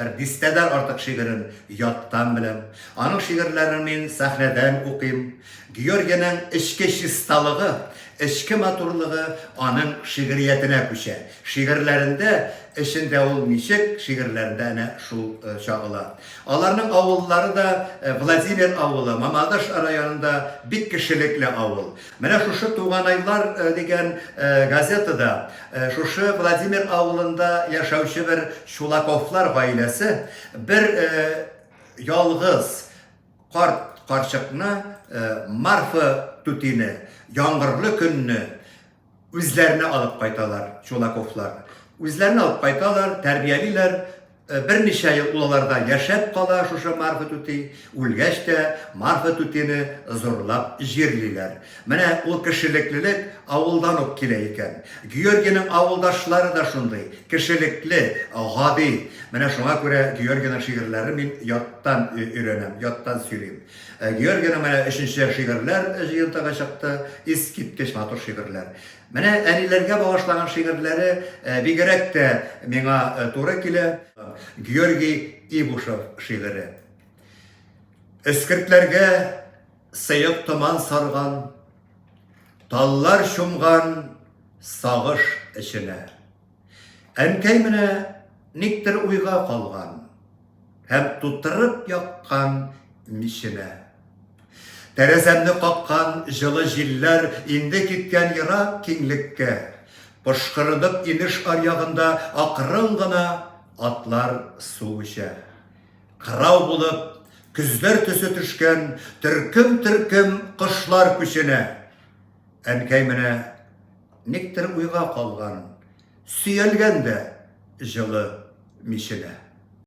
Бер дистәдән артык шигырен яттан беләм. Аның шигырьләрен мин сәхнәдән укыйм. Георгийның эчке чисталыгы, эчке матурлыгы аның шигъриятенә күчә. Шигырьләрендә эчендә ул ничек, шигырьләрендә әнә шул чагыла. Аларның авыллары да Владимир авылы, Мамадыш районында бик кешелекле авыл. Менә шушы Туганайлар дигән газетада шушы Владимир авылында яшәүче бер Чулаковлар гаиләсе бер ялгыз карт карчыкны Марфа түтине яңгырлы көнне үзләренә алып кайталар Чулаковлар. Үзләренә алып кайталар, тәрбиялиләр, Берничә ел ул аларда яшәп кала, шушы Марфа түти үлгәч тә, Марфа түтине зурлап җирлиләр. Менә ул кешелеклелек авылдан ук килә икән. Георгийның авылдашлары да шундый, кешелекле, гади. Менә шуңа күрә Георгийның шигырьләрен мин яттан өйрәнәм, яттан сөйлим. Георгийның менә өченче шигырьләр җыентыгы чыкты, искиткеч матур шигырьләр. Менә әниләргә багышлаган шигырьләре бигерәк тә миңа туры килә. Георгий Ибушев шигыре. Эскертләргә сыек томан сарган, Таллар чумган сагыш эченә. Әнкәй менә никтер уйга калган һәм тутырып яккан миченә. Тәрәзәмне каккан җылы җилләр инде киткән ерак киңлеккә. Пошкырынып инеш аръягында акрын гына атлар су эчә. Кырау булып, көзләр төсе төшкән төркем-төркем кошлар күченә. Әнкәй менә никтер уйга калган, сөялгән дә җылы миченә.